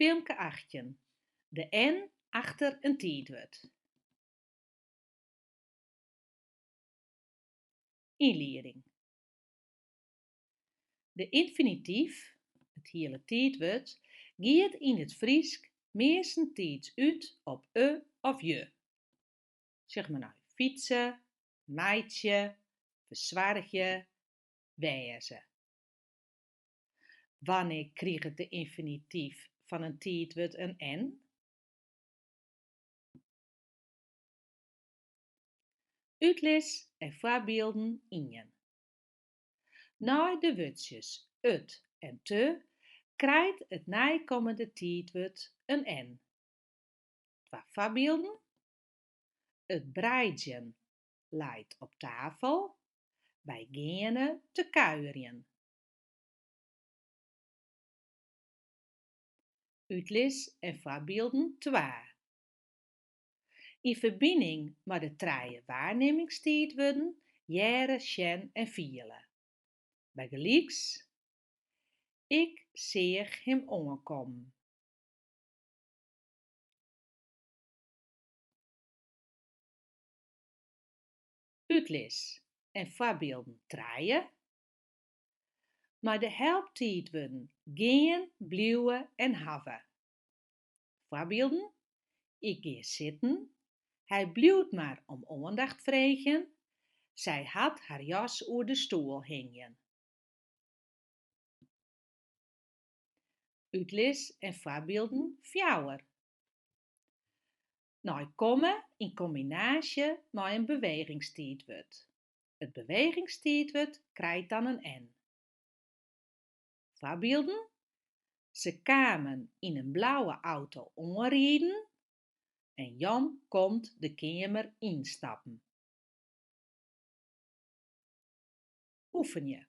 Filmke achttjin. De N achter in tiidwurd. Ynlieding. De ynfinityf, it hiele tiidwurd, giet yn it Frysk meastentiids út op e of je. Sjoch mar nei, fytse, meitsje, fersoargje, wêze. Wannear krijt de ynfinityf fan in tiidwurd in n? Utlis en foarbylden ien. Nei de wurdsjes it en te krijt it neikommende tiidwurd in n. Twa foarbylden, It breidjen leit op tafel, wy geane te kuierjen. Utlis en foarbylden twa. Yn ferbining mei de trije waarnimmingstiidwurden hearre, sjen en fiele. Bygelyks, Ik seach him oankommen. Utlis en foarbylden trije. Mei de helptiidwurden gean, bliuwe en hawwe. Foarbylden, Ik gean sitten, hy bliuwt mar om oandacht freegjen, sy hat har jas oer de stoel hingjen. Utlis en foarbylden fjouwer. Nei komme yn kombinaasje mei in bewegingstiidwurd. It bewegingstiidwurd krijt dan in n. Foarbylden, Se kamen yn in blauwe auto oanriden en Jan komt de keamer ynstappen. Oefenje.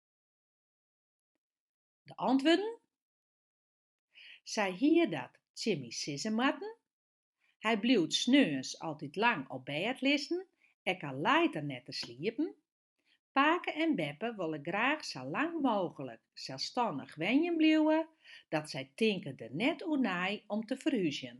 De antwurden? Sy hie dat Jimmy sizze moatten. Hy bliuwt sneons altyd lang op bêd lizzen, ek al leit er net te sliepen. Pake en beppe wolle graach sa lang mooglik selsstannich wenjen bliuwe, dat sy tinke der net oer nei om te ferhúzjen.